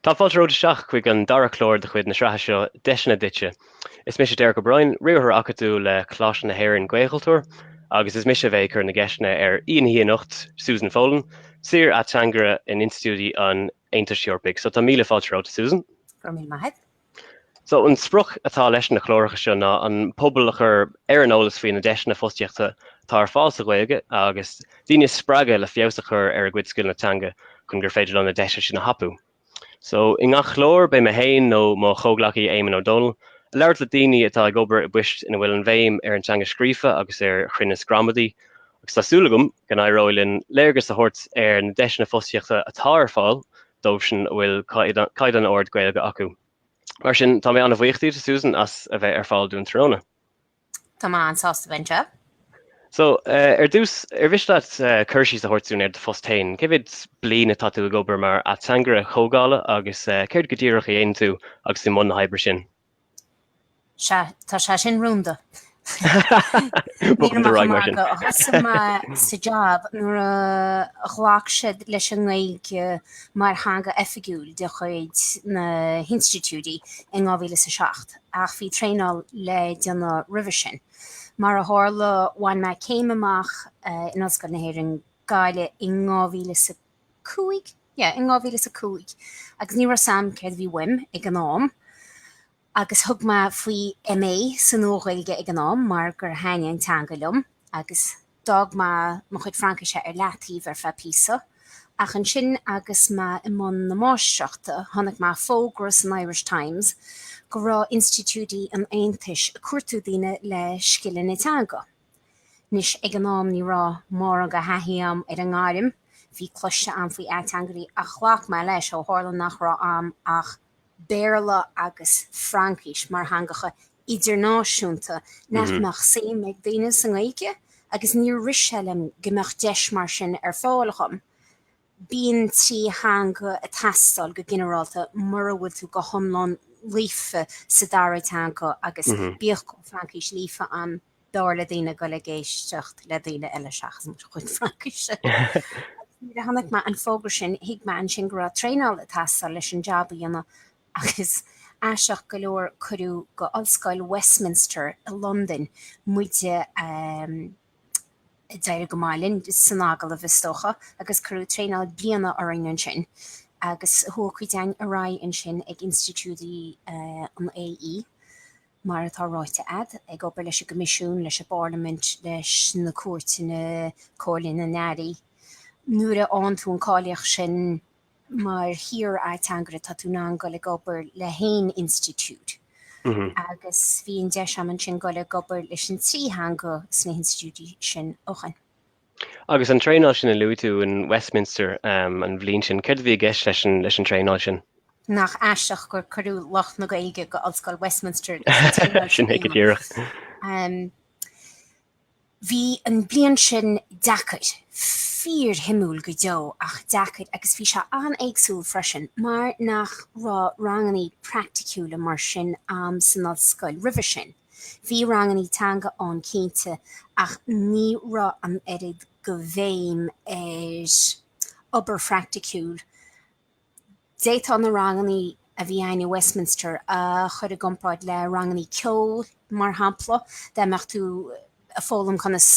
Tá fáilte romhat isteach chuig an dara clár de chuid na sraithe seo Deiseanna Duitse. Is mise Derek O'Brien, Riarthóir Acadúil le Coláiste na hÉireann, Gaelchultúr, agus is mise a bheidh ag cur na gceisteanna ar aoi an oíche anocht, Susan Folan, Saor-Ateangaire in Institiúidí an Aontais Eorpaigh. So tá míle fáilte romhat, a Susan. So, an sprioc atá leis na cláracha seo ná an pobal a chur ar an eolas faoi na deiseanna fostaíochta atá ar fáil sa Ghaeilge agus daoine a spreagadh le feabhas a chur ar a gcuid scileanna teanga chun gur féidir leo na deiseanna sin a thapú. So, i ngach clár, beidh mé féin nó mo chomhghleacaí Éamon Ó Dónaill ag labhairt le daoine atá ag obair i bpoist ina bhfuil an bhéim ar an teanga scríofa agus ar chruinneas gramadaí agus tá súil agam, go n-éireoidh linn léargas a thabhairt ar na deiseanna fostaíochta atá ar fáil dóibhsean a bhfuil caighdeán ard Gaeilge acu. Mar sin, tá mé an-bhuíoch díot, a Susan, as a bheith ar fáil dúinn tráthnóna. Tá mé an-sásta a bheith anseo. So, ar dtús, ar mhiste leat cur síos a thabhairt dúinn ar do phost féin? Cé mhéad bliana atá tú ag obair mar ateangaire comhdhála agus céard go díreach a dhéanann tú agus tú i mbun na hoibre sin? Sea, tá sé sin rúnda. Nílim ach magadh. Thosaigh mé sa jab nuair a ghlac siad leis an nGaeilge mar theanga oifigiúil de chuid na n-institiúidí i 2007, ach bhí traenáil le déanamh roimhe sin. Mar a tharla, bhain mé céim amach in Ollscoil na hÉireann, Gaillimh, i 2005. cúig, yeah, in dhá mhíle is a cúig agus ní raibh 's a'm céard a bhí uaim ag an am agus thug mé faoi MA sa Nua-Ghaeilge ag an am mar gur thaitnigh an teanga liom agus d'fhág mé mo chuid Fraincise ar leathtaobh ar feadh píosa ach ansin agus mé i mbun na máistreachta chonaic mé fógra san Irish Times go raibh institiúidí an Aontais ag cuardú daoine le scileanna teanga. Anois ag an am ní raibh mórán de thaithí a'm ar an ngairm, bhí cloiste a'm faoi ateangairí ach ghlac mé leis ó tharla nach raibh a'm ach Béarla agus Fraincis mar theangacha idirnáisiúnta nach mbeadh suim ag daoine sa nGaeilge agus níor rith sé liom go mbeadh deis mar sin ar fáil dhom. Bíonn trí theanga ag teastáil go ginearálta mura bhfuil tú go hiomlán líofa sa dara teanga agus bíodh go bhfuil Fraincis líofa a'm, b'fhearr le daoine a ghoil ag éisteacht le daoine eile seachas mo chuid Fraincise. Nuair a chonaic mé an fógra sin, thuig mé ansin go raibh traenáil ag teastáil leis an jab a dhéanamh agus, aisteach go leor, cuireadh go Ollscoil Westminster i Londain muid. D'éirigh go maith linn san agallamh, is dócha, agus cuireadh traenáil bliana orainn ansin, agus chuaigh cuid againn ar aghaidh ansin ag institiúidí an AE, mar atá ráite agat, ag obair leis an gCoimisiún, leis an bParlaimint, leis na cúirteanna, Comhairle na nAirí. Nuair a fhaigheann tú an cáilíocht sin, mar shaor-ateangaire tá tú in ann dul ag obair le haon institiúid agus bíonn deis agam ansin dul ag obair leis na trí theanga sna hinstitiúidí sin chugainn. Agus an traenáil sin a luaigh tú in Westminster an bhliain sin, céard a bhí i gceist leis an traenáil sin? Nach aisteach gur cuireadh lucht na Gaeilge go hOllscoil Westminster agus an traenáil sin a dhéanamh. Bhí an bliain sin deacair, fíorshuimiúil go deo ach deacair agus bhí sé an-éagsúil freisin mar nach raibh ranganna praicticiúla mar sin agam san ollscoil roimhe sin. Bhí ranganna teanga ann cinnte ach ní raibh an oiread de bhéim ar obair phraicticiúil D'fhéadfá na ranganna a bhí againn i Westminster a chur i gcomparáid le ranganna ceoil, mar shampla, dá mbeifeá-sa ag foghlaim conas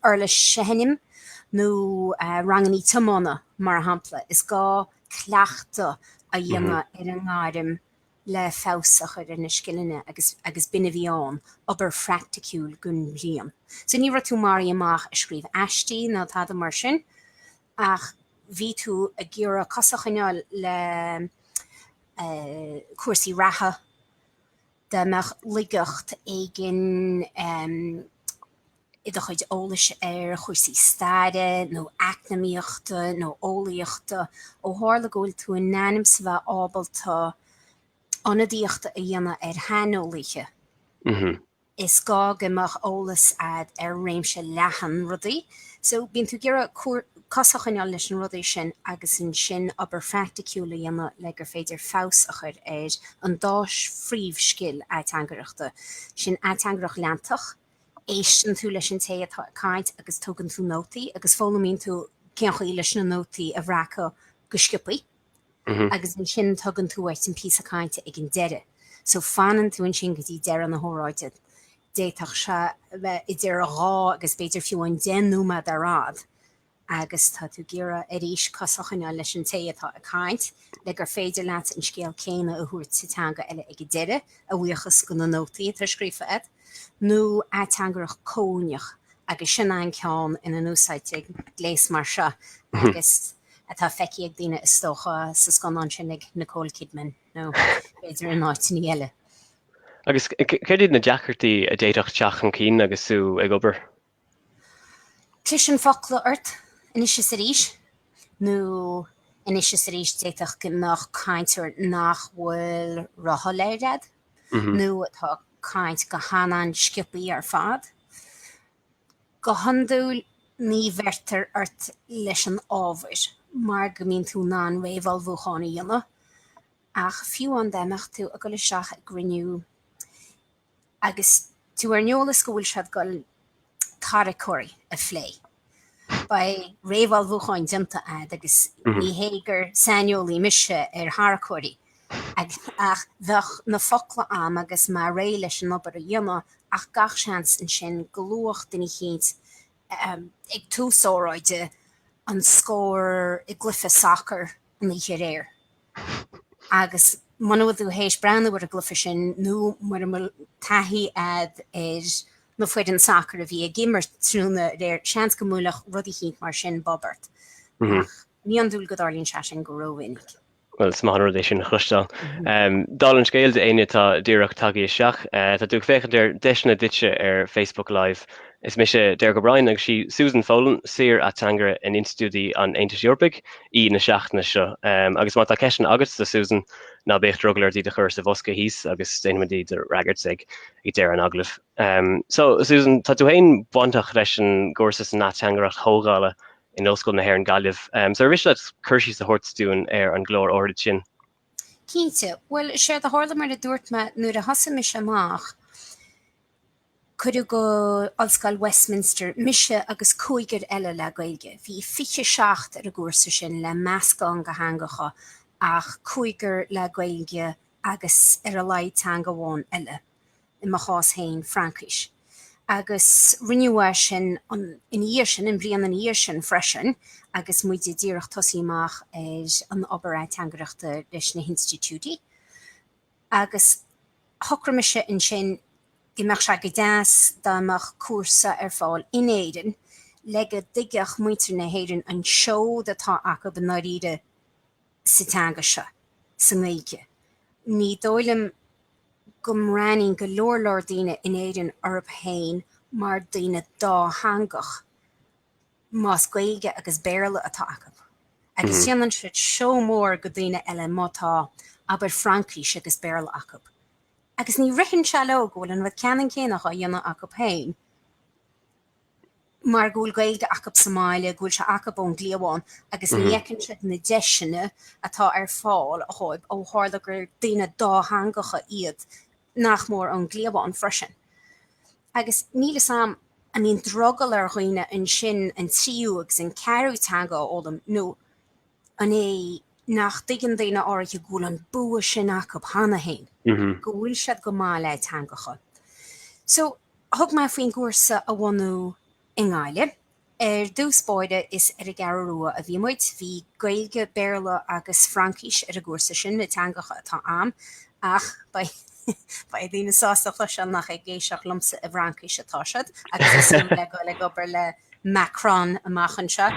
uirlis a sheinm, nó ranganna tiomána, mar shampla. Is gá cleachtadh a dhéanamh ar an ngairm le feabhas a chur ar na scileanna agus b'in a bhí ann, obair phraicticiúil don bhliain. So ní raibh tú mar a dhéanfá ag scríobh aistí ná tada mar sin? Ach bhí tú ag iarraidh cos a choinneáil le cúrsaí reatha, dá mbeadh laigeacht éigin i do chuid eolais ar chúrsaí staire nó eacnamaíochta nó eolaíochta, ó tharla go bhfuil tú in ainm is a bheith ábalta ionadaíocht a dhéanamh ar shaineolaithe. Is gá go mbeadh eolas agat ar réimse leathan rudaí so bíonn tú ag iarraidh cos a choinneáil leis na rudaí sin agus ansin obair phraicticiúil a dhéanamh le gur féidir feabhas a chur ar an dá phríomhscil ateangaireachta, sin ateangaireacht leantach, éisteann tú leis an té atá ag caint agus tógann tú nótaí agus foghlaimíonn tú cén chaoi leis na nótaí a bhreacadh go sciobtha. agus ansin tugann tú uait an píosa cainte ag an deireadh so fanann tú ansin go dtí deireadh na hóráide. D'fhéadfadh sé bheith idir dhá agus b'fhéidir fiú amháin deich nóiméad ar fhad agus tá tú ag iarraidh arís cos a choinneáil leis an té atá ag caint le gur féidir leat an scéal céanna a thabhairt sa teanga eile ag an deireadh, a bhuíochas do na nótaí atá scríofa agat. nó ateangaireacht chomhuaineach, agus sin an ceann ina n-úsáidtear gléas mar seo agus atá feicthe ag daoine, is dócha, sa scannán sin le Nicole Kidman, nó b'fhéidir in áiteanna eile. Agus céard iad na deacrachtaí a d'fhéadfadh teacht chun cinn agus tú ag obair Cliseann focla ort anois is arís, nó anois is arís d'fhéadfadh go mbeadh cainteoir nach bhfuil róshoiléir agat, nó atá ag caint go han-sciopthaí ar fad. Go hiondúil ní bheirtear ort leis an ábhar mar go mbíonn tú in ann réamhullmhúchán a dhéanamh, ach fiú dá mbeadh tú ag dul isteach i gcruinniú, Agus tú ar an eolas go bhfuil siad ag goil tarracóirí a phlé. Beidh réamhullmhúchán déanta ad agus ní hé gur saineolaí mise ar tharracóirí, ach bheadh na focla am agus mé réidh leis an obair a dhéanamh ach gach seans ansin go luafadh duine eicínt ag tús óráide an scór i gcluiche sacair an oíche aréir. Agus muna bhfuil tú théis breathnú ar an gcluiche sin, nó mura bhfuil taithí agat ar na foirne sacair a bhí ag imirt tráthnóna aréir, seans go mbuailfeadh rud eicínt mar sin bob ort. Ach ní hiondúil go dtarlaíonn sé sin go rómhinic. Well is maith an rud é sin a chloisteáil. Dála an scéil, d'aon duine atá díreach tagtha isteach, tá tú ag féachaint ar Deiseanna Duitse ar Facebook Live. Is mise Derek O'Brien agus sí Susan Folan, saor-ateangaire in institiúidí an Aontais Eorpaigh, aoi na seachtaine seo. Agus má tá ceisteanna agat do Susan, ná bíodh drogall ort iad a chur sa bhosca thíos agus déanfaimid iad a fhreagairt ag deireadh an agallaimh. So, Susan, tá tú féin bainteach leis an gcúrsa san ateangaireacht chomhdhála in Ollscoil na hÉireann, Gaillimh. So, ar mhiste leat cur síos a thabhairt dúinn ar an gclár áirid sin? Cinnte. Bhuel, séard a tharla, mar a dúirt mé, nuair a thosaigh mise amach, cuireadh go Ollscoil Westminster mise agus cúigear eile le Gaeilge. Bhí fiche seacht ar an gcúrsa sin, le meascán de theangacha, ach cúigear le Gaeilge agus ar a laghad teanga amháin eile. i mo chás féin, Fraincis. Agus rinneadh é sin ina dhiaidh sin, an bhliain ina dhiaidh sin freisin agus muid díreach ag tosaí amach ar an obair ateangaireachta leis na hinstitiúidí. Agus shocraigh mise ansin go mbeadh sé go deas dá mbeadh cúrsa ar fáil in Éirinn le go dtuigfeadh muintir na hÉireann an seod atá acu i ndáiríre, sa teanga seo, sa nGaeilge. Ní dóigh liom go mbreathnaíonn go leor leor daoine in Éirinn orthu féin mar dhaoine dátheangach, más Gaeilge agus Béarla atá acu. Agus déanann siad seó mór de dhaoine eile má tá, abair, Fraincis agus Béarla acu. Agus ní ritheann sé leo go bhfuil an rud ceannann céanna á dhéanamh acu féin. mar go bhfuil Gaeilge acu sa mbaile, go bhfuil sé acu ón gcliabhán agus ní fheiceann siad na deiseanna atá ar fáil dhóibh ó tharla gur daoine dátheangacha iad nach mór ón gcliabhán freisin. Agus níl 'fhios a'm an mbíonn drogall ar dhaoine ansin an tríú agus an ceathrú teanga a fhoghlaim nó. An é nach dtuigeann daoine áirithe go bhfuil an bua sin acu cheana féin, go bhfuil siad go maith le teangacha? So, thug mé faoin gcúrsa a bhunú i nGaillimh. Ar dtús báire, is ar an gCeathrú Rua a bhí muid. Bhí Gaeilge, Béarla agus Fraincis ar an gcúrsa sin, na teangacha atá a'm, ach beidh daoine sásta a chloisteáil nach ag éisteacht liomsa i bhFraincis atá siad, agus iad le goil ag obair le Macron amach anseo.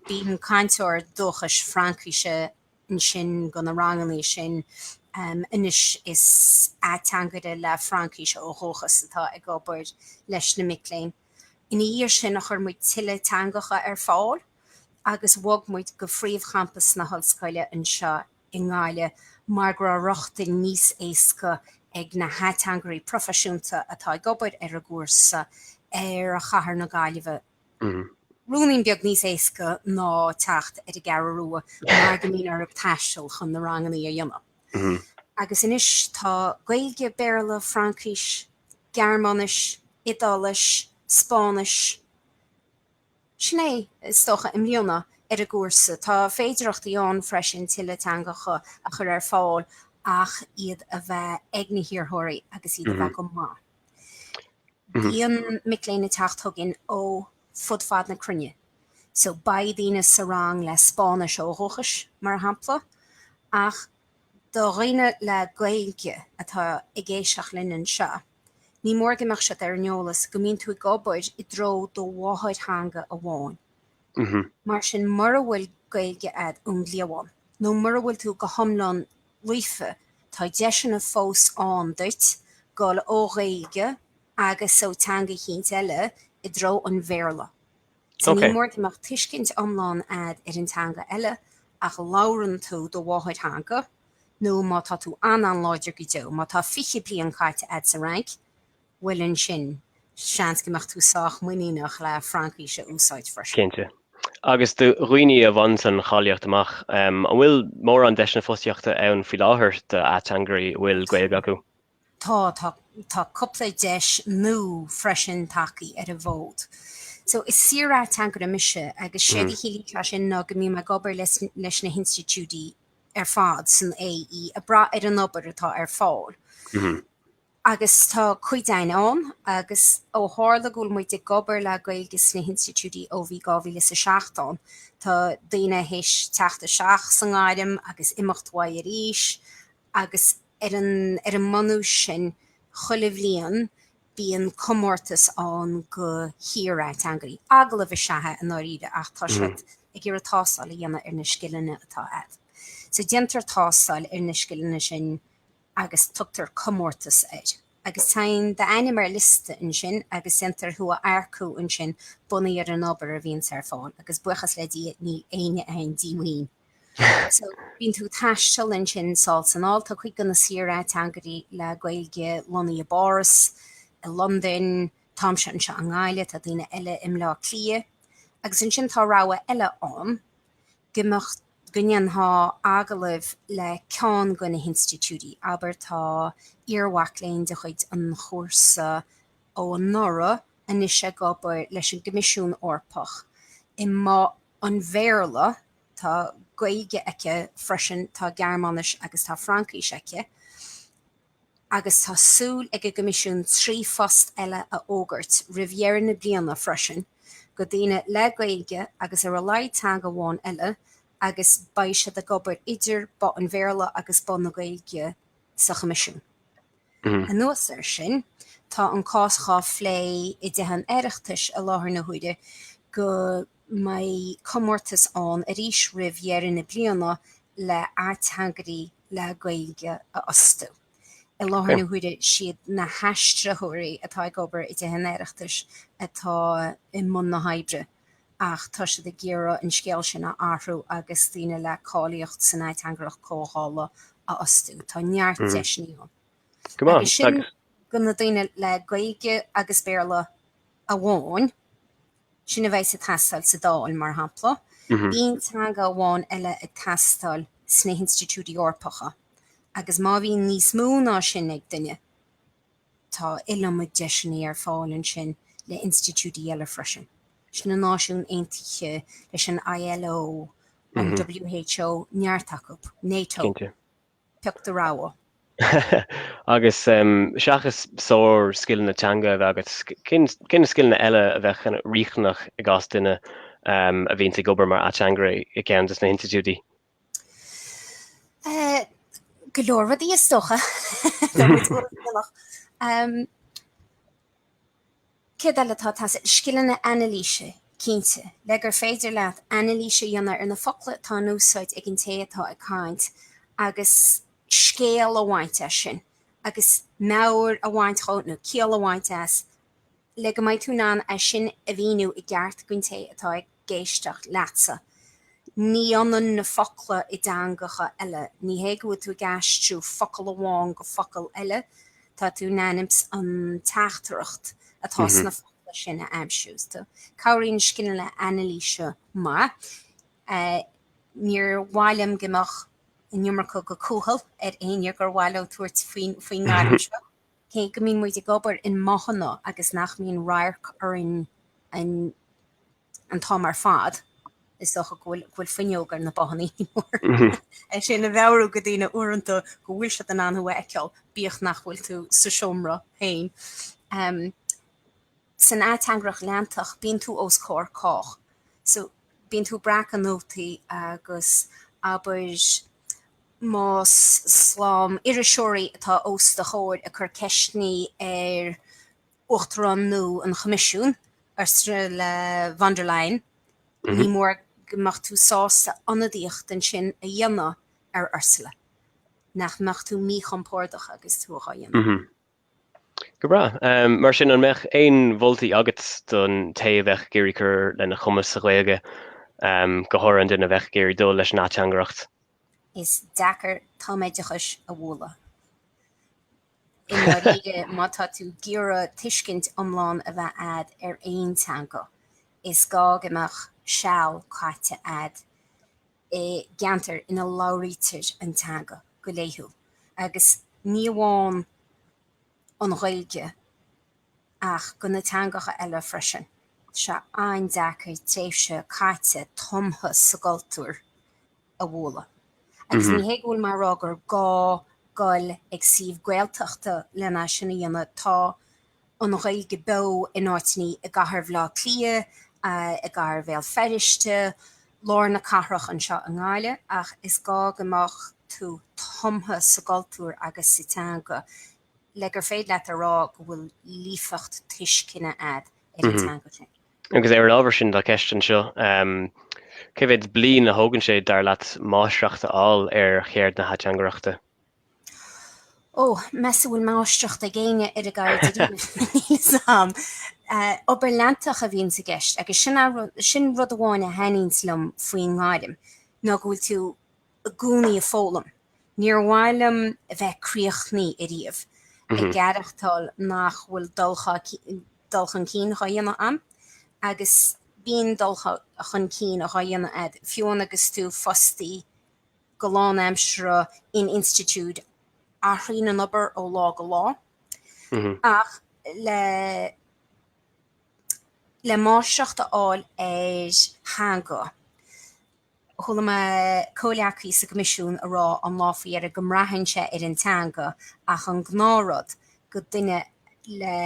Bíonn cainteoir dúchais Fraincise ansin go na rangannaí sin anois is ateangaire le Fraincis ó dhúchas atá ag obair leis na mic léinn. Ina dhiaidh sin chuir muid tuilleadh teangacha ar fáil agus bhog muid go príomhchampas na hollscoile anseo i nGaillimh mar go raibh rochtain níos éasca ag na hateangairí proifisiúnta atá ag obair ar an gcúrsa ar chathair na Gaillimhe. Ruainnín beag níos éasca ná teacht ar an gCeathrú Rua mar go mbíonn orthu taisteal chun na rangannaí a dhéanamh. Agus anois tá Gaeilge, Béarla, Fraincis, Gearmáinis, Iodáilis, Spáinnis, sin é, is dócha, i mbliana, ar an gcúrsa. Tá féidearthachtaí ann freisin tuilleadh teangacha a chur ar fáil ach iad a bheith ag na hiarrthóirí agus iad a bheith go maith. Bíonn mic léinn ag teacht chugainn ó fud fad na cruinne. So, beidh daoine sa rang le Spáinnis ó dhúchas, mar shampla, ach do dhaoine le Gaeilge atá ag éisteacht linn anseo, ní mór go mbeadh siad ar an eolas go mbíonn tú ag obair i dtreo do mháthairtheanga amháin. Mar sin, mura bhfuil Gaeilge a'd ón gcliabhán, nó mura bhfuil tú go hiomlán Líofa, tá deiseanna fós ann duit dul ó Ghaeilge agus ó teanga eicínt eile i dtreo an Bhéarla. So, ní mór go mbeadh tuiscint iomlán a'd ar an teanga eile, ach labhrann tú do mháthairtheanga, nó má tá tú an-an-láidir go deo, má tá fiche bliain caite a'd sa Fhrainc, bhuel ansin, seans go mbeadh tú sách muiníneach le Fraincis a úsáid freisin. Cinnte. Agus do dhaoine a bhainfeadh cáilíocht amach, an bhfuil mórán deiseanna fostaíochta ann faoi láthair d'ateangairí a bhfuil Gaeilge acu? Tá, tá. Tá cúpla deis nua freisin tagtha ar an bhfód. So, is saor-ateangaire mise agus séard a chiallaíonn sé sin ná go mbím ag obair leis na hinstitiúidí ar fad san AE, ag brath ar an obair atá ar fáil. Agus tá cuid againn ann, agus ó tharla go bhfuil muid ag obair le Gaeilge sna hinstitiúidí ó bhí 2000 is a seacht ann, tá daoine théis teacht isteach sa ngairm agus imeacht uaidh arís, agus ar an ar an mbunús sin, chuile bhliain, bíonn comórtas ann go shaorateangairí. Agallamh is ea é, i ndáiríre, ach tá siad ag iarraidh tástáil a dhéanamh ar na scileanna atá agat. So déantar tástáil ar na scileanna sin. agus tugtar comórtas air. Agus tagann d'ainm ar liosta ansin agus déantar thú a earcú ansin bunaithe ar an obair a bhíonns ar fáil agus buíochas le Dia níl éinne ann díomhaoin. So bíonn tú ag taisteal ansin sall is anall, tá cuid de na saorateangairí le Gaeilge lonnaithe i bPáras, i Londain, táimse anseo i nGaillimh, tá daoine eile i mBleá Cliath. Agus ansin tá rogha eile ann go mbeadh go ndéanfá agallamh le ceann de na hinstitiúidí, abair tá iarmhac léinn de chuid an chúrsa ó anuraidh anois ag obair leis an gCoimisiún Eorpach i mBoth an Bhéarla, tá Gaeilge aici freisin, tá Gearmáinis agus tá Fraincis aici. agus tá súil ag an gCoimisiún trí phost eile a fhógairt roimh dheireadh na bliana freisin go daoine le Gaeilge agus ar a laghad teanga amháin eile agus beidh siad ag obair idir both an Bhéarla agus both na Gaeilge sa Choimisiún. Anuas air sin, tá an cás dhá phlé i dTithe an Oireachtais i láthair na huaire go. mbeidh comórtas ann arís roimh dheireadh na bliana le ateangairí le Gaeilge a fhostú. I láthair na huaire siad na haistritheoirí atá ag obair i dTithe an Oireachtais atá i mbun na hoibre ach tá siad ag iarraidh an scéal sin a athrú agus daoine le cáilíocht san ateangaireacht comhdhála a fhostú. Tá neart deiseanna ann. Agus sin go na daoine le Gaeilge agus Béarla amháin. Sin a bheas ag teastáil sa Dáil, mar shampla. Bíonn teanga amháin eile ag teastáil sna hinstitiúidí Eorpacha agus má bhíonn níos mó ná sin ag duine, tá iliomad deiseanna ar fáil ansin le hinstitiúidí eile freisin, leis na Náisiúin Aontaithe, leis an ILO, an WHO, neart acu, NATO. Cinnte. pioc do rogha. Agus seachas sár-scileanna teanga a bheith agat, cé na scileanna eile a bheadh riachtanach i gcás duine a bhíonn ag obair mar ateangaire i gceann de na hinstitiúidí? Go leor rudaí is dócha. Céard eile atá ag teastáil? Scileanna anailíse, cinnte, le gur féidir leat anailís a dhéanamh ar na focla atá in úsáid ag an té atá ag caint agus scéal a bhaint as sin agus meabhair a bhaint dhe nó ciall a bhaint as le go mbeidh tú in ann é sin a mhíniú i gceart don té atá ag éisteacht leatsa. Ní ionann na focla i dteangacha eile. Ní hé go bhfuil tú ag aistriú focal amháin go focal eile, tá tú in ainm is an teachtaireacht atá sna focla sin a aimsiú. So, cabhraíonn scileanna anailíse, mar níor. mhaith liom go mbeadh an iomarca de chúthaile ar éinne gur mhaith leo tabhairt faoin ngairm seo. Cé go mbíonn muid ag obair i mbothanna agus nach mbíonn radharc orainn an t-am ar fad, is dócha go bhfuil fuinneog ar na bothanna, ní mór é sin a mheabhrú do dhaoine uaireanta go bhfuil siad in ann thú a fheiceáil bíodh nach bhfuil tú sa seomra féin. San ateangaireacht leantach, bíonn tú os comhair cách. So, bíonn tú ag breacadh nótaí agus, abair, más slám iriseoirí atá os do chomhair ag cur ceisteanna ar Uachtarán nua an Choimisiúin, Ursula le von der Leyen, ní mór go mbeadh tú sásta ionadaíocht ansin a dhéanamh ar Ursula. Nach mbeadh tú míchompordach agus tú á dhéanamh? Go breá. Mar sin, an mbeadh aon mholtaí agat don té a bheadh ag iarraidh cur lena chumas sa Ghaeilge, go háirithe an duine a bheadh ag iarraidh dul leis an ateangaireacht? Is deacair tumoideachas a bhualadh. I ndáiríre, má tá tú ag iarraidh tuiscint iomlán a bheith agat ar aon teanga, is gá go mbeadh seal caite agat. i gceantar ina labhraítear an teanga go laethúil, agus ní amháin an Ghaeilge ach do na teangacha eile freisin. Tá sé an-deacair tréimhse caite tumtha sa gcultúr a bhualadh. Agus ní hé go bhfuil mé a rá gur gá goil chuig suíomh Gaeltachta len é sin a dhéanamh, tá an Ghaeilge beo in áiteanna i gcathair Bhaile Átha Cliath, i gcathair Bhéal Feirste, lár na cathrach, anseo i nGaillimh, ach is gá go mbeadh tú tumtha sa gcultúr agus sa teanga le gur féidir leat a rá go bhfuil líofacht tuisceana agat ar an teanga sin. Agus ar an ábhar sin tá ceist anseo, cé mhéad bliain a thógann sé, dar leat, máistreacht a fháil ar cheird na hateangaireachta? Ó, ní mheasaim go bhfuil máistreacht ag éinne ar a gceird ariamh. Obair leantach a bhíonn sa gceist agus sin rud amháin a thaitníonns liom faoin ngairm, ná go bhfuil tú i gcónaí ag foghlaim. Níor mhaith liom a bheith críochnaithe ariamh, ag aireachtáil nach bhfuil dul chun cinn dhá dhéanamh a'm. Agus bíonn dul chun cinn dhá dhéanamh a'd, fiú agus tú fostaí. go lánaimseartha in institiúid athraíonn an obair ó lá go lá ach le le máistreacht a fháil ar theanga, chuala mé comhghleacaí sa gCoimisiún a rá an lá faoi dheireadh go mbraitheann sé ar an teanga ach an gnáthrud do dhuine le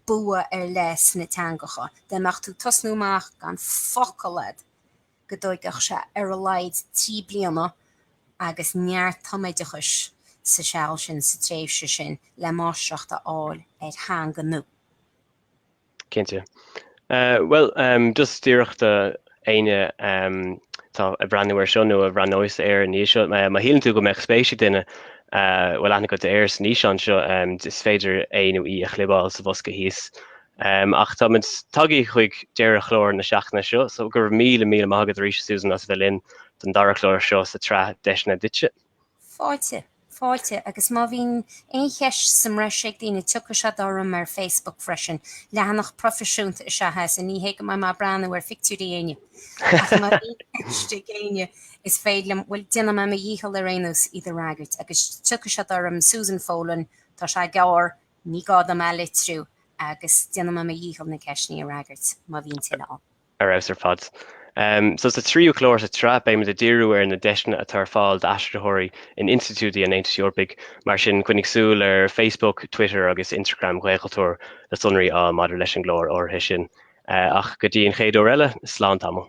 bua ar leith sna teangacha, dá mbeadh tú tosnú amach gan focal a'd. go dtógfadh sé ar a laghad trí bliana agus neart tumoideachais sa seal sin sa tréimhse sin le máistreacht a fháil ar theanga nó. Cinnte. Bhuel, just díreach d'éinne atá ag breathnú air seo nó a bhreathnóidh air ina dhiaidh seo, má shíleann tú go mbeadh spéis ag duine, a bhfuil aithne agat air san fhíseán seo, is féidir é nó í a chlibeáil sa bhosca thíos Ach táimid tagtha chuig deireadh chlár na seachtaine seo, so go raibh míle, míle maith agat arís, Susan, as a bheith linn don dara clár seo sa tsraith Deiseanna Duitse. Fáilte, fáilte, agus má bhíonn aon cheist sa mbreis ag daoine tiocfaidh siad orm ar Facebook freisin, leathanach proifisiúnta is ea é, so ní hé go mbeidh mé ag breathnú ar phictiúirí éinne. Ach má bhíonn ceist ag éinne is féidir liom, bhuel, déanfaidh mé mo dhícheall ar aon nós iad a fhreagairt, agus tiocfaidh siad orm, Susan Folan, tá sé gearr, Ní gá dom é a litriú agus déanaim mo dhícheall na ceisteanna a fhreagairt, má bhíonn tuilleadh ann. Ar fheabhas ar fad. So sa tríú clár sa tsraith beimid ag díriú ar na deiseanna atá ar fáil d'aistritheoirí in institiúidí an Aontais Eorpaigh, mar sin coinnigh súil ar Facebook, Twitter agus Instagram Ghaelchultúr le sonraí a fháil maidir leis an gclár áirithe sin. Ach go dtí an chéad uair eile, slán tamall.